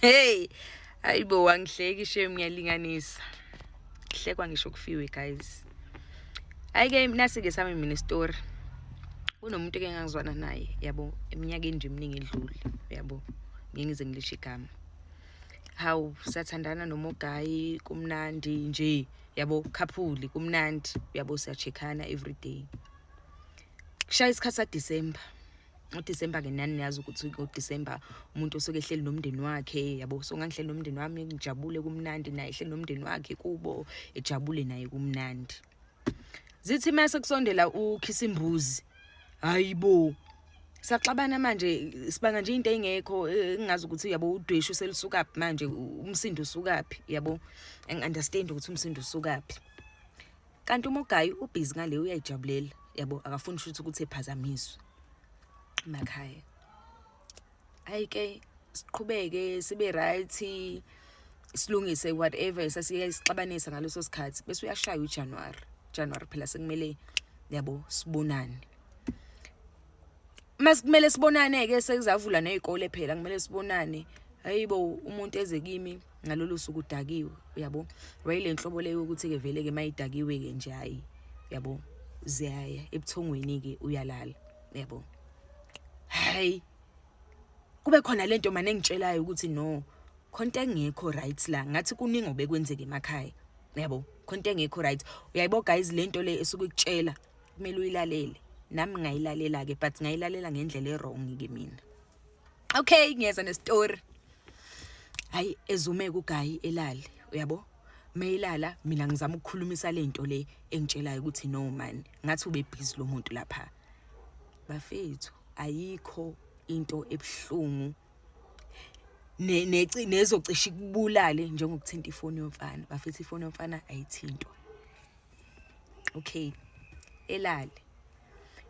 hey ayibo wangihleki shame ngiyalinganisa kuhlekwa ngisho kufiwe guys ayike nasi-ke sami mina story kunomuntu eke ngangizwana naye yabo eminyakeni nje eminingi edlule yabo ngeke ngize ngilisho igama hawu sathandana nomogayi kumnandi nje yabo khaphuli kumnandi yabo siyachekhana every day kushaya isikhathi sadisemba uDisemba ke nani niyazi ukuthi uDisemba umuntu osuke ehleli nomndeni wakhe yabo so ngangihleli nomndeni wami ngijabule kumnandi naye ehleli nomndeni wakhe kubo ejabule naye kumnandi zithi mase kusondela ukhisa imbuzi hayibo saxabana manje sibanga nje into engekho engazi eh, ukuthi yabo udweshu selisukaphi manje umsindo usukaphi yabo angi understand ukuthi umsindo usukaphi kanti uma ugayi ubhizi ngale uyayijabulela yabo akafuni ukuthi ukuthi ephazamiswe emakhaya ayi ke siqhubeke sibe right silungise whatever sasiye sixabanisa ngaleso sikhathi bese uyashaya uJanuary January phela sekumele yabo sibonane masikumele sibonane ke sekuzavula nezikole phela kumele sibonane hayibo umuntu eze kimi ngalolu suku udakiwe uyabo wayile nhlobo leyo ukuthi ke vele ke mayidakiwe ke nje hayi uyabo ziyaya ebuthongweni ke uyalala uyabo hayi kube khona lento manje engitshelayo ukuthi no khonto engekho right la ngathi kuningi obekwenzeke emakhaya uyabo khonto engekho right uyayibo guys lento le esuke ikutshela kumele uyilalele nami ngayilalela ke but ngayilalela ngendlela erong ke mina okay ngiyeza nestory hayi ezume kugayi elali uyabo mayilala mina ngizama ukukhulumisa lento le engitshelayo ukuthi no man ngathi ube busy lo muntu lapha bafethu ayikho into ebuhlungu nezocisha ikubulale njengokuthinta ifoni yomfana bafethu ifoni yomfana ayithintwa okay elale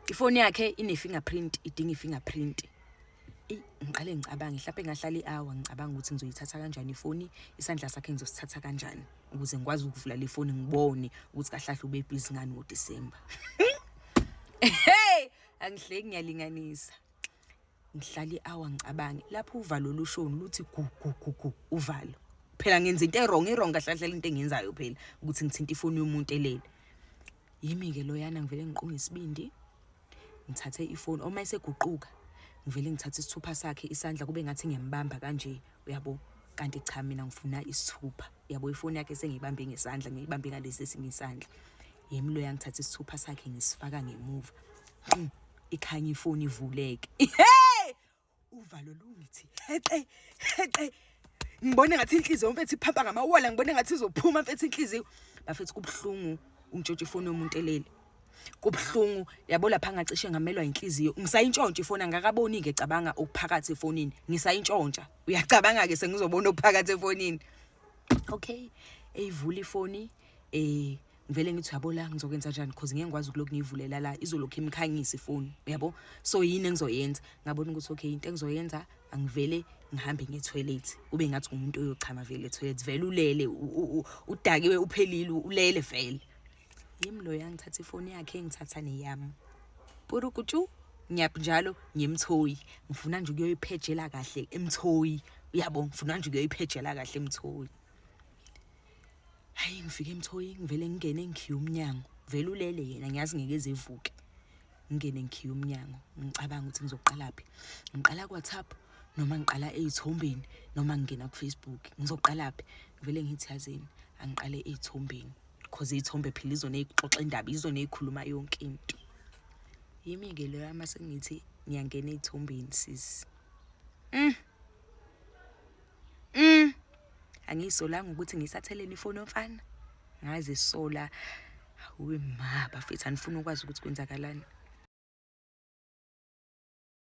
ifoni yakhe ine-fingerprint idinga i-fingerprint eyi ngiqale ngicabange mhlawumpe ngahlala i-hour ngicabanga ukuthi ngizoyithatha kanjani ifoni isandla sakhe ngizosithatha kanjani ukuze ngikwazi ukuvula le foni ngibone ukuthi kahlahle ube bhizi ngani ngodisemba hey angihleki ngiyalinganisa ngihlala i-hour ngicabange lapho uvalo lushoni luthi gugugugu uvalo phela ngenza into erong irong kahlahlela into engiyenzayo phela ukuthi ngithinta ifoni yomuntu elele yimi-ke loyana ngivele ngiqunge isibindi ngithathe ifoni uma eseguquka ngivele ngithathe isithupha sakhe isandla kube ngathi ngiyambamba kanje uyabo kanti cha mina ngifuna isithupha uyabo ifoni yakhe sengiyibambe ngesandla ngiyibambe ngalesi esinye isandla yimi loya ngithathe isithupha sakhe ngisifaka ngemuva mm. ikhanye ifoni ivuleke hey uvalo lungithi hexe hexe ngibone ngathi inhliziyo mfethu iphapha ngamawala ngibone ngathi izophuma mfethu inhliziyo bafethu kubuhlungu ungitshotshe ifoni yomuntu elele kubuhlungu yabo lapha ngacishe ngamelwa inhliziyo ngisayintshontsha ifoni angakaboni ke cabanga okuphakathi efonini ngisayintshontsha uyacabanga ke sengizobona okuphakathi efonini okay eyivula ifoni eh ngivele ngithi uyabo la ngizokwenza njani because ngeke ngikwazi ukulokhu ngiyivulela la izolokhu imkhanyisa ifoni uyabo so yini engizoyenza ngabona ukuthi okay into engizoyenza angivele ngihambe ngetoilet kube ngathi umuntu oyochama vele etoilet vele ulele udakiwe uphelile ulele vele yimi lo yangithatha ifoni yakhe ngithatha neyami purukutshu ngiyap njalo ngiyemthoyi ngifuna nje ukuyoyiphejela kahle emthoyi uyabo ngifuna nje ukuyoyiphejela kahle emthoyi hayi ngifike emthoyi ngivele ngingene ngikhiye umnyango vele ulele yena ngiyazi ngeke ezevuke ngingene ngikhiye umnyango ngicabanga ukuthi ngizoqalaphi ngiqala kwathapp noma ngiqala ey'thombeni noma ngingena kufacebook ngizoqalaphi ngivele ngithi yazini angiqale ey'thombeni cause iy'thombe phela izona eyixoxa indaba izona ey'khuluma yonke into yimi-ke leyo ama sengithi ngiyangena ey'thombeni sisi mm. angiyisolanga ukuthi ngisatheleni ifoni yomfana ngazisola hawe ma bafethu anifuni ukwazi ukuthi kwenzakalani